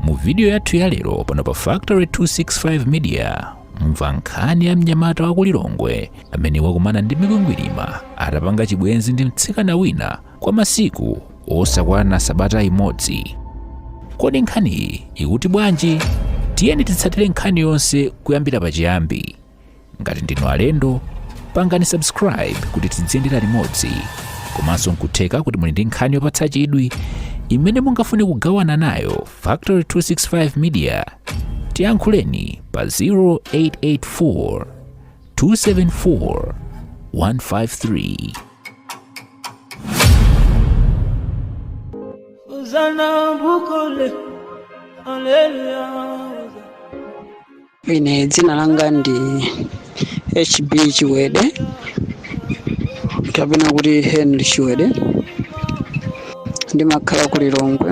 mu vidiyo yathu ya lero pano pa factory 265 media mumva nkhani ya mnyamata wa ku lilongwe amene wakumana ndi mikwingwirima atapanga chibwenzi ndi mtsikana wina kwa masiku osakwana sabata imodzi kodi nkhaniyi ikuti bwanji tiyeni titsatire nkhani yonse kuyambira pachiyambi ngati ndinu alendo pangani subscribe kuti tidziyendera limodzi komanso nkutheka kuti muli ndi nkhani yopatsa chidwi imene mungafune kugawana nayo factory 265 media tiyankhuleni pa 0884 274 153 Ine dzina langa ndi HB Chiwede kapena kuti Henry Chiwede ndimakhala ku Lilongwe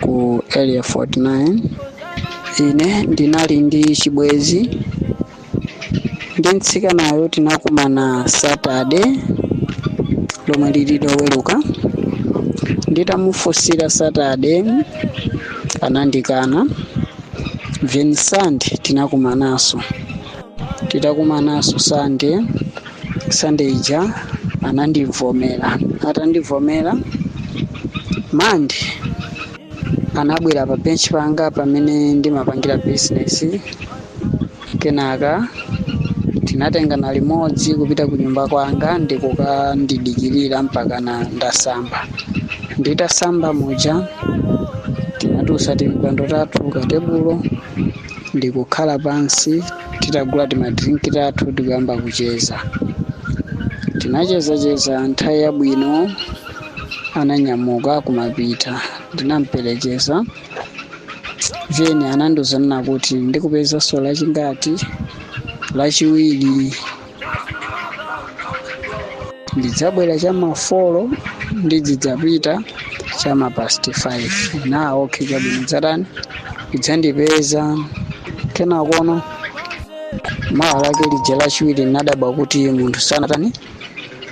ku area 49 ine ndinali ndi chibwezi ndi mtsikanayo tinakumana Saturday lomwe lili loweruka nditamufunsira Saturday anandikana then sande tinakumananso titakumananso sande sande ija anandivomera atandivomera mande anabwera pa bench panga pamene ndimapangira business Kenaka tinatengana limodzi kupita kunyumba kwanga ndi kukandidikirira mpakana ndasamba. Nditasamba muja, tinatutsa timpando tathu katebulo ndi kukhala pansi titagula timadrinki tathu ndi kuyamba kucheza. Tinachezacheza nthawi yabwino ananyamuka kumapita. Ndinamperekeza. then anandiuza kunena kuti ndikupezanso lachingati lachiwiri ndidzabwera cha mafolo ndidzizapita cha mapasti 5 na okay chabwino dzatani udzandipeza kenakono mawa lake lija lachiwiri ndinadabwa kuti munthu sanatani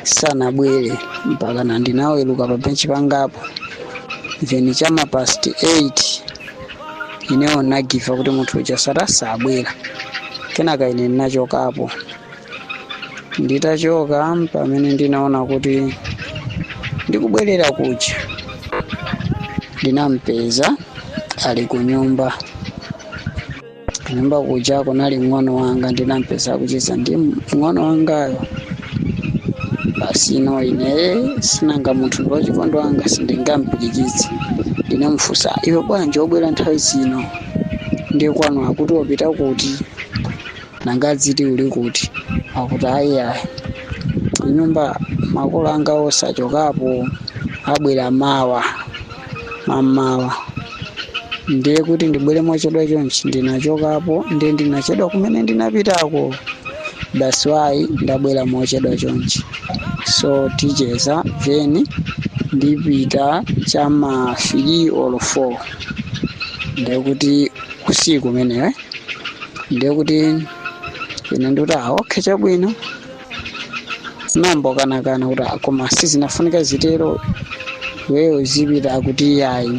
sanabwere mpakana ndinaweruka pa benchi pangapo then chama past 8 inewo ndinagiva kuti munthu uja sata sabwera kenaka ine ndinachokapo nditachoka pamene ndinaona kuti ndikubwerera kuja ndinampeza ali ku nyumba nyumba kuja kunali mng'ono wanga ndinampeza akucheza ndi mng'ono wangayo basi ino ine si nanga munthu ndi wachikondo wanga sindingampirikitse ndinamufunsa iwe bwanji wabwera nthawi zino ndiye kwanu akuti wapita kuti nanga adzati uli kuti akuti ayi ayi kunyumba makolo anga onse achokapo abwera mawa mamawa ndiye kuti ndibwere mochedwa chonchi ndinachokapo ndiye ndinachedwa kumene ndinapitako that's why ndabwera mochedwa chonchi so ticheza then ndipita chama 3 or 4 ndiye kuti usiku umenewe ndiye kuti ine ndikuti ah, okay chabwino ndinayamba ndakanakana kuti "Ah, koma sizimafunika zitero iweyo uzipita akuti iyayi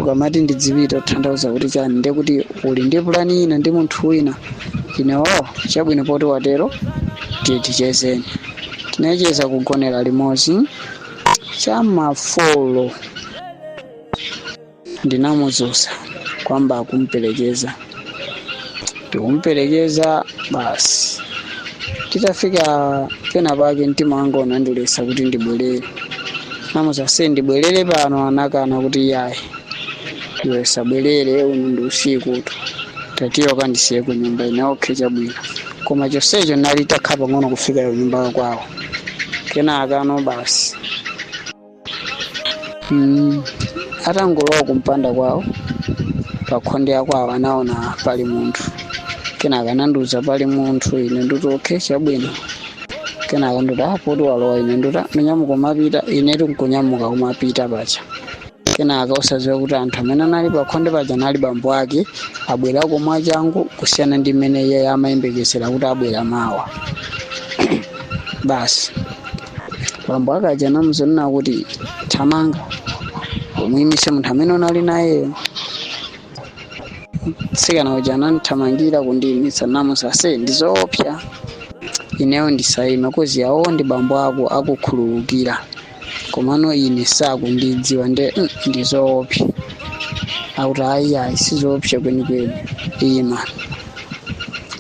ukamati ndidzipita utanthauza kuti chani ndiye kuti uli ndi pulani ina ndi munthu wina ine o chabwino poti watero tiye tichezeni tinacheza kugonera limodzi cha ma 4 ndinamudzutsa kuyamba kumperekeza ndikumperekeza basi titafika pena pake mtima wanga unandiletsa kuti ndibwerere ndinamuuza ase ndibwerere pano anakana kuti yayi iwe usabwerere uno ndi usikutu tatiye kandisiye ku nyumba ine okhe chabwino koma chonsecho kunali kutatsala pang'ono kufika ku nyumba kwawo kenakano basi Mm, atangolowa mumpanda kwawo pakhonde la kwawo anaona pali munthu kenaka anandiuza pali munthu ine nditi okay chabwino kenaka nditi ah poti walowa ine nditi "Ah, munyamuka umapita ine ndikunyamuka kumapita paja kenaka osadziwa kuti anthu amene anali pakhonde paja anali bambo ake abwerako mwachangu kusiyana ndi mmene iye amayembekezera kuti abwera mawa basi Bambo ake aja anamuuza kunena kuti thamanga umuyimitse munthu amene unali nayeyo. Mtsikana uja anandithamangira kundiyimitsa ndinamuuza ase ndizoopsa ineyo ndisayima coz awo ndi bambo ako akukhululukira komano ine sakundidziwa nde mm, ndizoopsa. Akuti ayi ayi sizoopsa kwenikweni ima.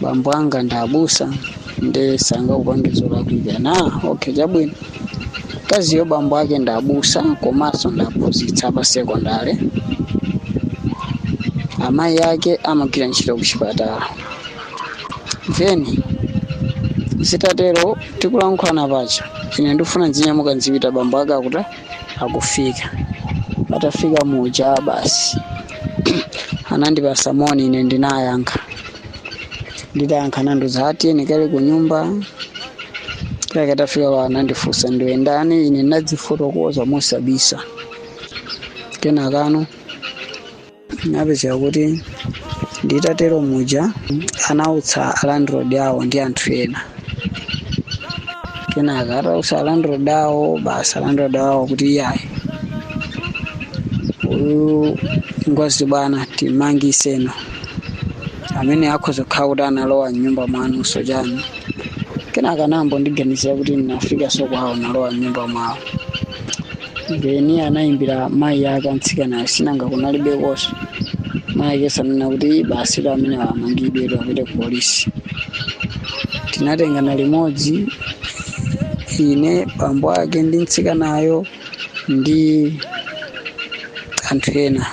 bambo anga ndi abusa nde sangakupange zolakwika ine okay chabwino mkaziyo bambo ake ndi abusa komanso ndi aphunzitsi pa sekondale amayi ake amagwira ntchito ku chipatala then zitatero tikulankhulana paja ine ndikufuna ndinyamuke ndizipita bambo ake akuti akufika atafika muja basi anandipasa moni ine ndinayankha nditayankha anandiuza ati tiyeni kaye ku nyumba kake atafika kwa anandifunsa ndiwe ndani ine ndinadzifotokoza mosabisa kenaka no inapezeka kuti nditatero muja anautsa landlord awo ndi anthu ena kenaka atautsa landlord awo basi alandlord awo kuti iyayi uyu ngozibwana timangitseni ameneyu akhoza kukhala kuti analowa mnyumba mwanunso chani kenaka anayamba kundiganizira kuti ndinafikanso kwawo nkulowa mnyumba mwawo then anayimbira mayi yake amtsikanayo sinanga kunalibeko so mayi yake ananena kuti basi ameneyo amangidwe apite ku polisi tinatengana limodzi ine bambo ake ndi mtsikanayo ndi anthu ena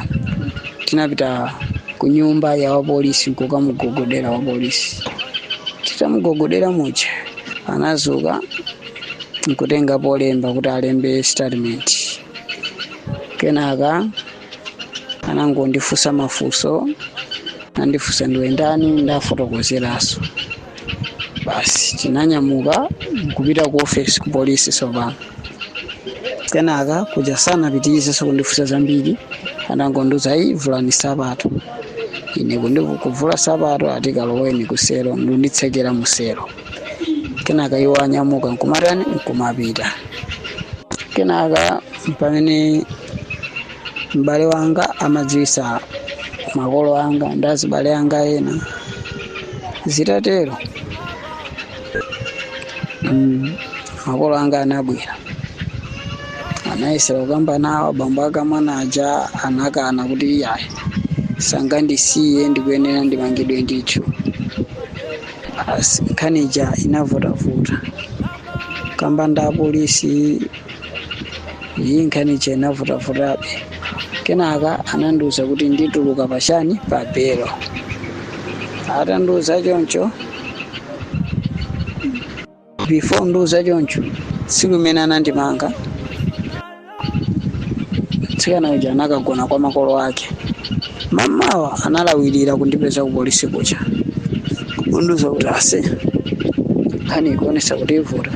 tinapita ku nyumba ya wapolisi nkukamugogodera wapolisi titamugogodera muja anazuka nkutenga polemba kuti alembe statement kenaka anangondifunsa mafunso anandifunsa ndiwe ndani ndafotokozeraso basi tinanyamuka nkupita ku office ku polisi tsopano kenaka kuja sanapitirizenso kundifunsa zambiri anangondiuza ayi vulani sapato ine kuvula sapato ati kaloweni ku selo ndikunditsekera mu selo kenaka iwo ananyamuka nkumatani nkumapita kenaka pamene m'bale wanga amadziwisa makolo anga ndi azibale anga ena zitatero makolo anga anabwera anayesera kukamba nawo abambo ake amwana aja anakana kuti iyayi sangandisiye ndikuyenera ndimangidwe ndithu basi nkhani ija inavutavuta kukamba ndi apolisi ayi nkhani ija inavutavutabe kenaka anandiuza kuti ndituluka pachani pa belo atandiuza choncho before andiuza choncho tsiku limene anandimanga mtsikana uja anakagona kwa makolo ake mamawa analawirira kundipeza ku polisi kuja kundiuza kuti ase nkhani ikuonesa kuti ivuta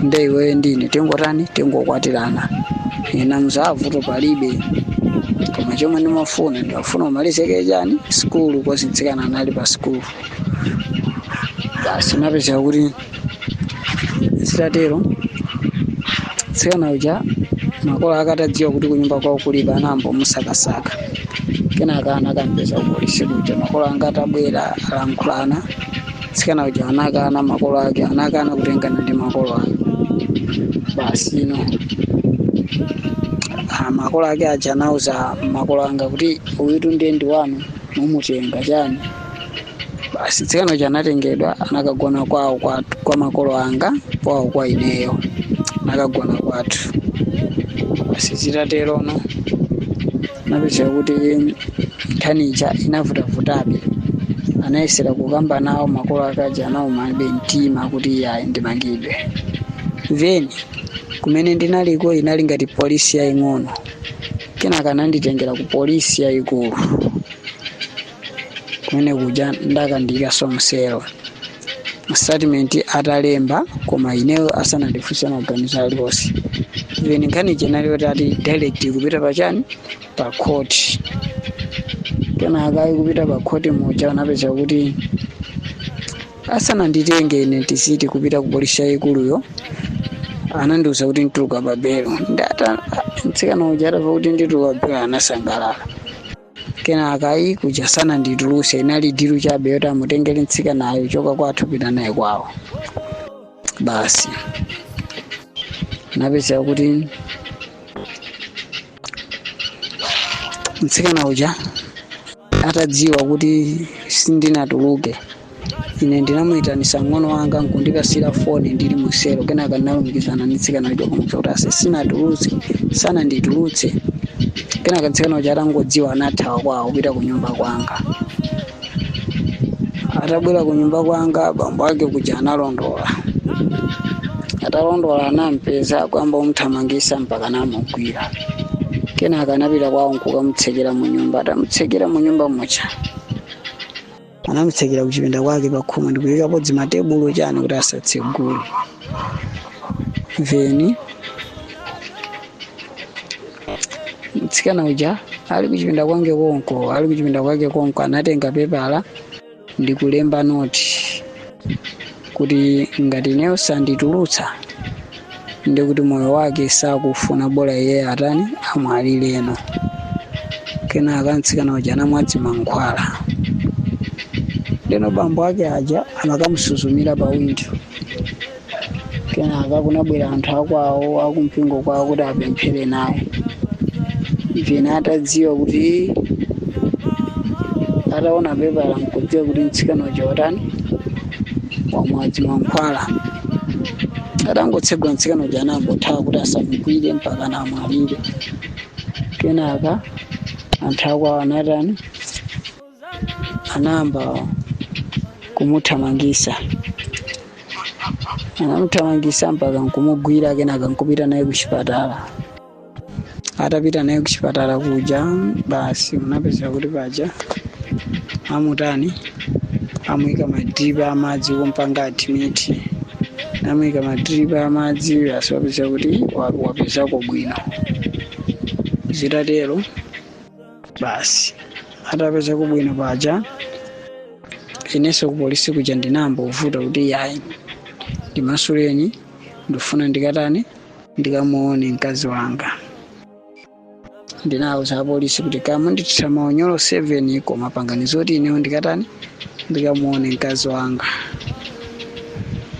nde iweyo ndine tingotani tingokwatirana ine ndati vuto palibe koma chomwe ndimafuna ndimafuna umalizeke chani sikulu coz mtsikana anali pa sikulu Basi zinapezeka kuti zitatero tsikana uja makolo ake atadziwa kuti kunyumba kwawo kulibe anayamba kumusakasaka kenaka anakampeza kupolisi kuja makolo anga atabwera alankhulana tsikana uja anakana makolo ake anakana kutengana ndi makolo ake basi no Ah, makolo ake aja anauza makolo anga kuti uyutu ndiye ndi wanu mumutenga chani basi tsikana uja anatengedwa anakagona kwawo kwathu kwa makolo anga kwawo kwa ineyo anakagona kwathu basi zitaterono napezeka kuti nkhani ija inavutavutabe anayesera kukamba nawo makolo ake aja anawumabe mtima kuti iyayi ndimangidwe then kumene ndinaliko inali ngati polisi yaying'ono kenaka ananditengera ku polisi yayikulu kumene kuja anakandiikanso muselo statement atalemba koma ineyo asanandifunse maganizo aliwonse even nkhani chenali kuti ati direct kupita pachani pa court kenaka kupita pa court muja unapezeka kuti asananditenge ine ndisanati kupita ku polisi yayikuluyo anandiuza kuti ndituluka pa belo then mtsikana uja atava kuti ndituluka pa belo anasangalala kenaka ayi kuja sanandituluse inali dilu chabe yoti amutengere mtsikanayo kuchoka kwathu kupita naye kwawo basi napezeka kuti mtsikana uja atadziwa kuti sindinatuluke Ine ndinamuitanisa mng'ono wanga nkundipatsira foni ndili muselo kenaka ndinalumikizana ndi mtsikana uja kumuza kuti aise sinatuluke sananditulutse kenaka mtsikana uja atangodziwa anathawa kwawo kupita kunyumba kwanga atabwera kunyumba kwanga bambo ake aja analondola atalondola anampeza nkuyamba kumthamangitsa mpaka anamugwira kenaka anapita kwawo nkukamutsekera munyumba atamutsekera munyumba muja anamutsekera kuchipinda kwake pakhomo ndikuyikapo dzimatebulo chani kuti asatsegule then mtsikana uja ali kuchipinda kwange konko ali kuchipinda kwake konko anatenga pepala ndikulemba noti kuti ngati ineyo sanditulutsa ndiye kuti moyo wake sakufuna bola iye atani amwalireno kenaka mtsikana uja anamwadi mankhwala ndeno bambo ake aja amakamusuzumira pa windo kenaka kunabwera anthu akwawo akumpingo kwawo kuti apemphere naye pena atadziwa kuti ataona pepala nkudziwa kuti mtsikana uja watani wamwadi mankhwala atangotsegula mtsikana uja anangothawa kuti asamugwire mpaka amwalire kenaka anthu akwawo anatani anayamba kumuthamangisa anamuthamangisa mpaka nkumugwira kenaka nkupita naye kuchipatala atapita naye kuchipatala kuja basi zinapezeka kuti paja amutani amuika madripa amadzi kumpanga admiti namuika madripa amadzi basi wapezeka kuti wa- wapezako bwino zitatero basi atapezako bwino paja inenso kupolisi kuja ndinayambano kuvuta kuti yayi ndimasuleni ndifuna ndikatani ndikamuone mkazi wanga ndinauza apolisi kuti kaya mundithira maunyolo koma pangani zoti inewo ndikatani ndikamuone mkazi wanga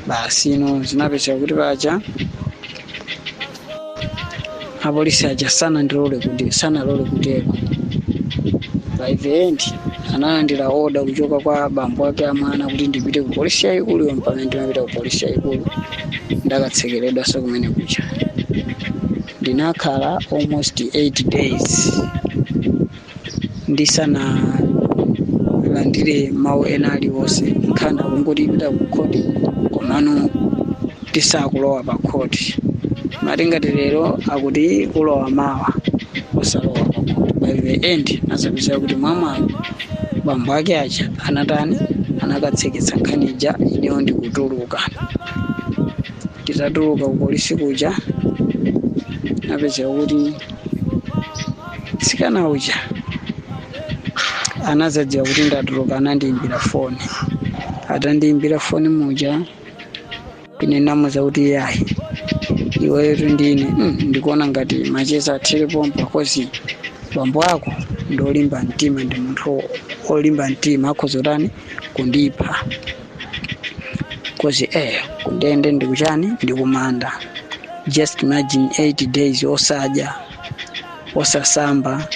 basi ino zinapezeka kuti paja apolisi aja sanandilole kuti sanalole kutero by the end analandira oda kuchoka kwa bambo ake a mwana kuti ndipite ku polisi yaikulu iyo mpamene ndimapita ku polisi yaikulu ndakatsekeredwanso kumene kuja ndinakhala almost 8 days ndisanalandire mawu ena aliwonse nkhani akungoti ipita ku khoti komano sitikulowa pa khoti amati ngati lero akuti ulowa mawa osalowa pa khoti by the end zinazapezeka kuti mwamwayi bambo ake aja anatani anakatseketsa nkhani ija ineyo ndikutuluka nditatuluka kupolisi kuja zinapezeka kuti mtsikana uja anazadziwa kuti ndatuluka anandiimbira foni atandiimbira foni muja ine ndinamuuza kuti yayi iwetu ndi ine mm, ndikuona ngati macheza athere pompa coz bambo ako ndi olimba mtima ndi munthu olimba mtima akhoza kutani kundipha coz eh kundende ndikuchani ndikumanda just imagine 8 days osadya osasamba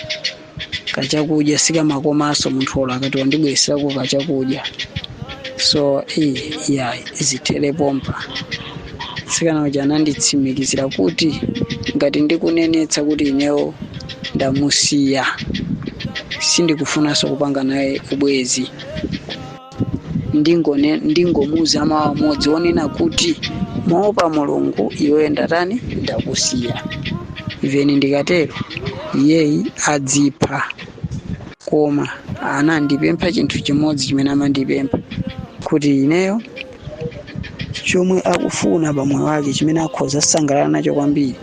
kachakudya sikamakomanso munthu olo akati wandibweretserako kachakudya so ai, yayi zithere pompa mtsikana uja ananditsimikizira kuti ngati ndikunenetsa kuti inewo ndamusiya sindikufunanso kupanga naye ubwezi ndingone ndingomuuza mawu amodzi onena kuti moopa mulungu iweyo ndatani ndakusiya even ndikatero iyeyo adzipha koma anandipempha chinthu chimodzi chimene amandipempha kuti ineyo chomwe akufuna pa moyo wake chimene akhoza kusangalala nacho kwambiri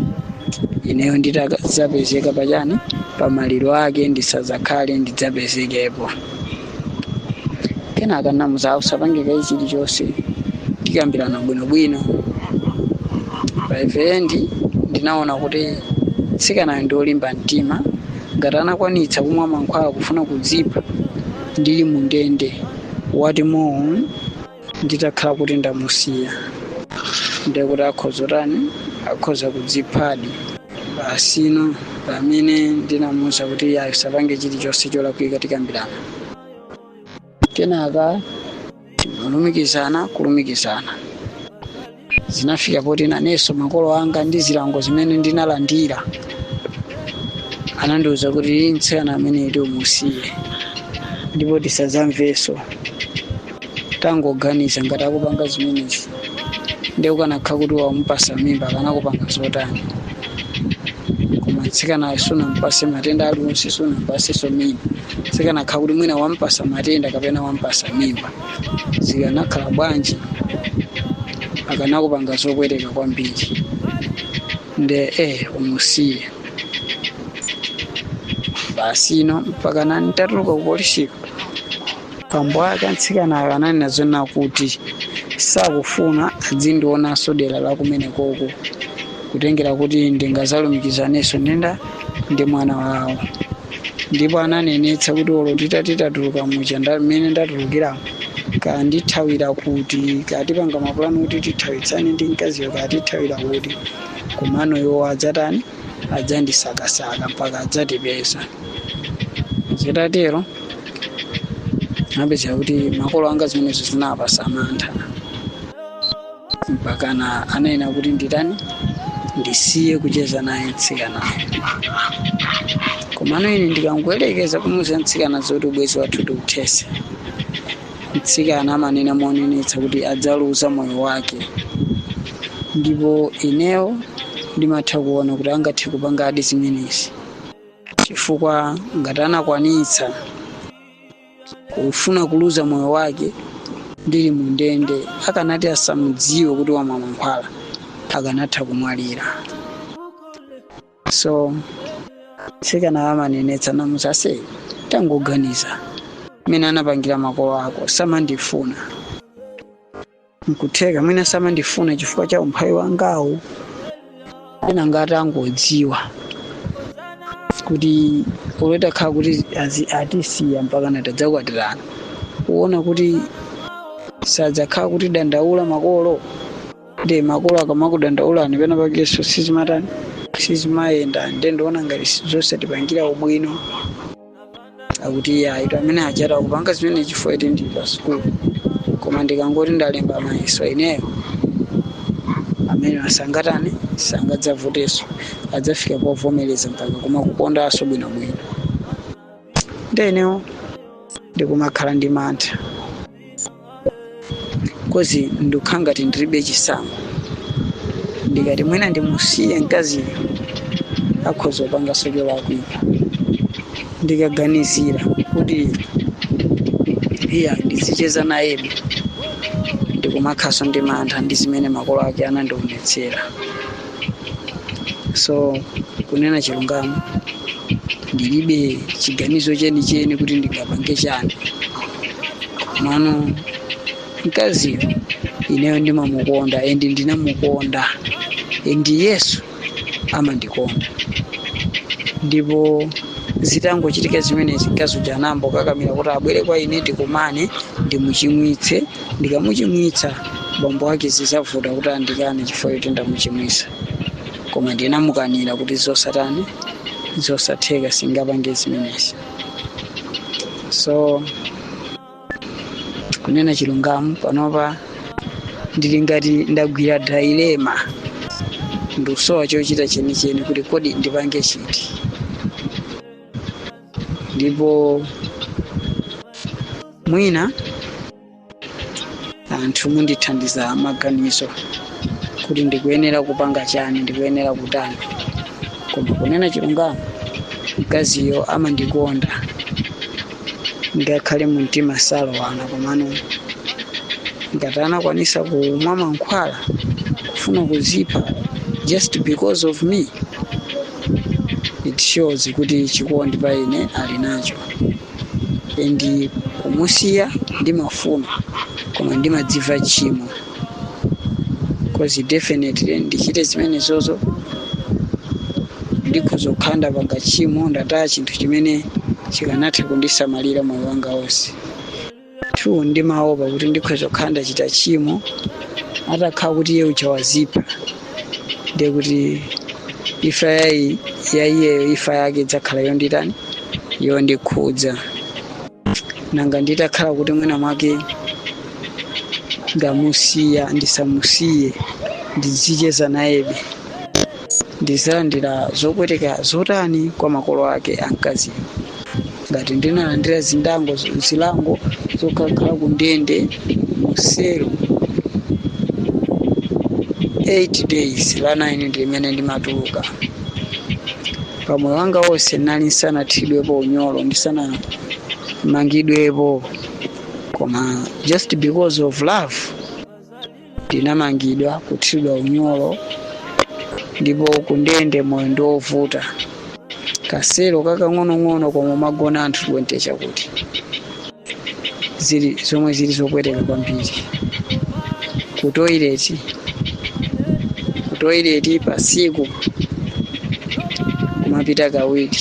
ineyo nditadzapezeka pachani pa maliro ake ndisadzakhale ndidzapezekepo kenaka ndinamuuza usapange kaye chilichonse tikambirana bwinobwino by the end ndinaona kuti mtsikanayo ndi olimba mtima ngati anakwanitsa kumwa mankhwala kufuna kudzipha ndili mu ndende what more nditakhala kuti ndamusiya ndiye kuti akhoza kutani akhoza kudziphadi basi ino pamene ndinamuwuza kuti asapange chilichonse cholakwika tikambirana kenaka timalumikizana kulumikizana zinafika poti nanenso makolo anga ndi zilango zimene ndinalandira anandiwuza kuti "Iih mtsikana ameneyutu umusiye ndipo tisadzamvenso tangoganiza ngati akupanga zimenezi ndiye ukanakha kuti wamupasa mimba akanakupanga zotani koma mtsikanayo sunampatse matenda aliwonse sunampatsenso mimba zikanakha kuti mwina wampasa matenda kapena wampasa mimba zikanakhala bwanji akanakupanga zopweteka kwambiri nde eh umusiye basi ino mpakana nditatuluka ku polisiko bambo ake a mtsikanayo ananena zonena kuti sakufuna adzindionanso dera la kumenekoko kutengera kuti ndingazalumikizanenso ndi ndani ndi mwana wawo ndipo ananenetsa kuti olo titati tatuluka muja nda- mmene ndatulukira kaya ndithawira kuti kaya tipanga mapulani kuti tithawitsane ndi mkaziyo kaya tithawira kuti komano iwo adzatani adzatisakasaka mpaka adzatipeza zitatero mupeza kuti makolo anga zimenezo zinawapatsa mantha mpakana anaena kuti nditani ndisiye kucheza naye mtsikanayo komano ine ndikangoyerekeza kumuuza mtsikana zoti ubwezi wathu tiuthese mtsikana amanena monenetsa kuti adzaluza moyo wake ndipo inewo ndimatha kuona kuti angathe kupangadi zimenezi chifukwa ngati anakwanitsa kufuna kuluza moyo wake ndili mu ndende akanati asamudziwe kuti wamwa mankhwala akanatha kumwalira so mtsikana amanenetsa ndamuuza ase tangoganiza mmene anapangira makolo ako samandifuna nkutheka mwina samandifuna chifukwa cha umphawi wangawu pena ngati angodziwa kuti olo atakhala kuti azi- atisiya mpaka natadzakwatirana kuona kuti sadzakhala akutidandaula makolo ndi makolo akamakudandaulani pena pakenso sizimatani sizimayenda nde ndikuona ngati sizotipangira ubwino akuti iye ayitu amene aja akupanga zimene chifukwa choti ndi pa sukulu koma ndikangoti ndalemba mayeso ineyo amenewo sangatani sangadzavutenso adzafika povomereza mpaka kumakukondanso bwinobwino nde inewo ndikumakhala ndi mantha cause ndikukhala ngati ndilibe chisankho ndikati mwina ndimusiye mkaziyo akhoza kupanganso cholakwika ndikaganizira kuti iya ndizicheza nayebe ndikumakhalanso ndi mantha ndi zimene makolo ake anandionetsera so kunena chilungamo ndilibe chiganizo chenicheni kuti ndingapange chani komano mkaziyo ineyo ndimamukonda and ndinamukonda and iyenso amandikonda ndipo zitangochitika zimenezi mkazi uja anambokakamira kuti abwere kwa ine tikumane ndimuchimwitse ndikamuchimwitsa bambo wake zizavuta kuti andikane chifukwa choti ndamuchimwitsa koma ndinamukanira kuti zosatani zosatheka sindingapange zimenezi so kunena chilungamo panopa ndili ngati ndagwira dilemma ndikusowa chochita chenicheni kuti kodi ndipange chiti ndipo mwina anthu mundithandiza maganizo kuti ndikuyenera kupanga chani ndikuyenera kutani koma kunena chilungamo mkaziyo amandikonda ndiye ngakhale mu mtima salowana komano ngati anakwanisa kumwa mankhwala kufuna kudzipha just because of me it shows kuti chikondi pa ine ali nacho and kumusiya ndimafuna koma ndimadziwa tchimo cause definitely ndichite zimenezozo ndikhoza kukhala ndapanga tchimo ndataya chinthu chimene chikanatha kundisamalira moyo wanga wonse 2 ndimaopa kuti ndikhoza kukhala ndachita tchimo atakhala kuti iye uja wadzipha ndiye kuti imfa ya ya iyeyo imfa yake idzakhala yonditani yondikhudza nanga nditakhala kuti mwina mwake ndamusiya ndisamusiye ndizicheza nayebe ndidzalandira zopweteka zotani kwa makolo ake a mkaziyo ngati ndinalandira zindango zilango zokakhala ku ndende mu selo 8 days la 9 ndi limene ndimatuluka pamoyo wanga wonse ndinali ndisanathiridwepo unyolo ndisanamangidwepo koma just because of love ndinamangidwa kuthiridwa unyolo ndipo kundende moyo ndi wovuta kaselo kakang'onong'ono komwe mumagona anthu 20 chakudya zili zomwe zili zopweteka kwambiri ku toilet ku toilet pasiku kumapita kawiri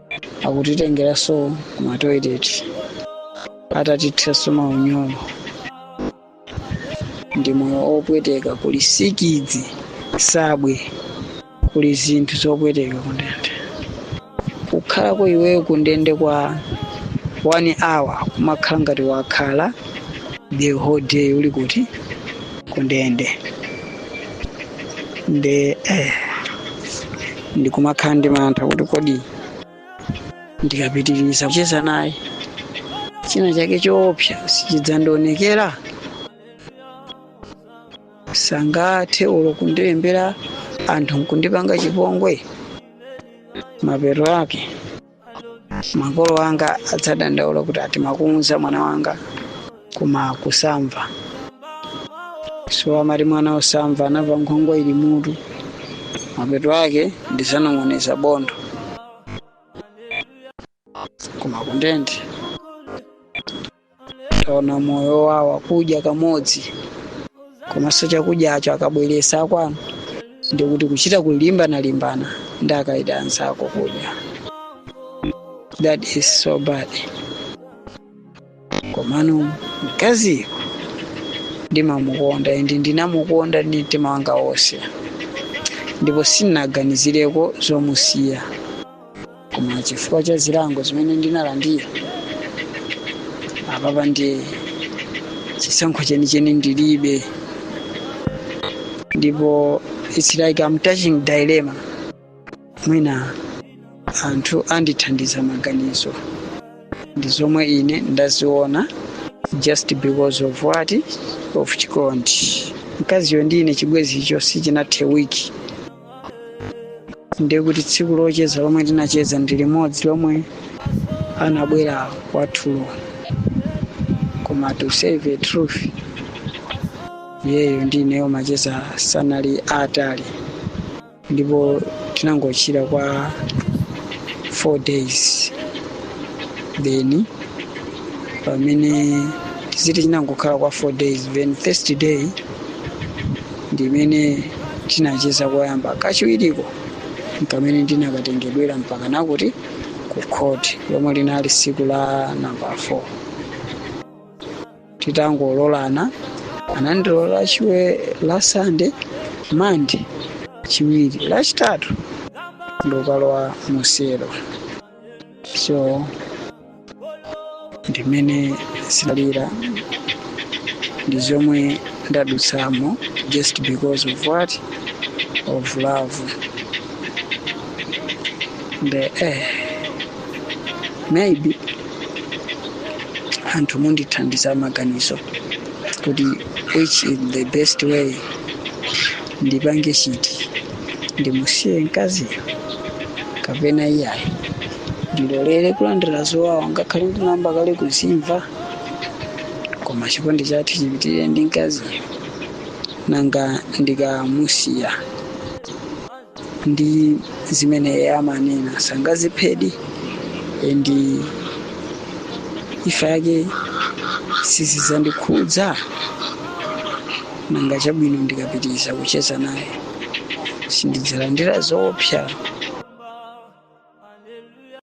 akutitengeranso kumatoilet atatithiranso maunyolo ndi moyo opweteka kuli sikidzi sabwe kuli zinthu zopweteka kundende kukhalako iweyo kundende kwa one hour kumakhala ngati wakhala the whole day uli kuti kundende nde eh, ndikumakhala ndi mantha kuti kodi ndikapitiriza kucheza naye china chake choopsa sichidzandionekera sangathe olo kundilembera anthu nkundipanga chipongwe mapeto ake makolo anga adzadandaula kuti ati timakuwuza mwana wanga koma kusamva so, amati mwana osamva anamva nkhwangwa ili m'mutu mapeto ake ndizanong'oneza bondo koma kundende kuona moyo wawo kudya kamodzi komanso chakudyacho akabweretsa akwanu ndikuti kuchita kulimbana-limbana ndi akaida anzako kudya that is so bad komano mkaziyo ndimamukonda and ndinamukonda ndi mtima wanga wonse ndipo sindinaganizireko zomusiya koma chifukwa cha zilango zimene ndinalandira apapa ndiye chisankho chenicheni ndilibe ndipo it's like I'm touching dilemma mwina anthu andithandiza maganizo ndi zomwe ine ndaziona just because of what of chikondi mkaziyo ndi ine chibwenzicho sichinathe wiki ndiye kuti tsiku locheza lomwe tinacheza ndi limodzi lomwe anabwera kwathulo koma to say the truth iyeyo ndi ineyo macheza sanali atali ndipo chinangotha kwa four days then pamene tiziti chinangokhala kwa four days then first day ndimene tinacheza koyamba kachiwiriko n'komwe ndinakatengedwera mpaka nakuti ku khoti lomwe linali tsiku la namba 4 titangololana anandilola tsiku la sande mande lachiwiri lachitatu ndokalowa muselo so ndimene zinalili ndi zomwe ndadutsamo just because of what of love the eh, maybe anthu mundithandiza maganizo kuti which is the best way ndipange chiti ndimusiye mkaziyo kapena iyayi ndilolere kulandira zowawa ngakhale ndinayamba kale kuzimva koma chikondi chathu chipitirire ndi mkaziyo nanga ndikamusiya ndi zimene iye amanena sangaziphedi ndi ifa yake sizizandikhudza nanga chabwino ndikapitiriza kucheza naye sindidzalandira zoopsa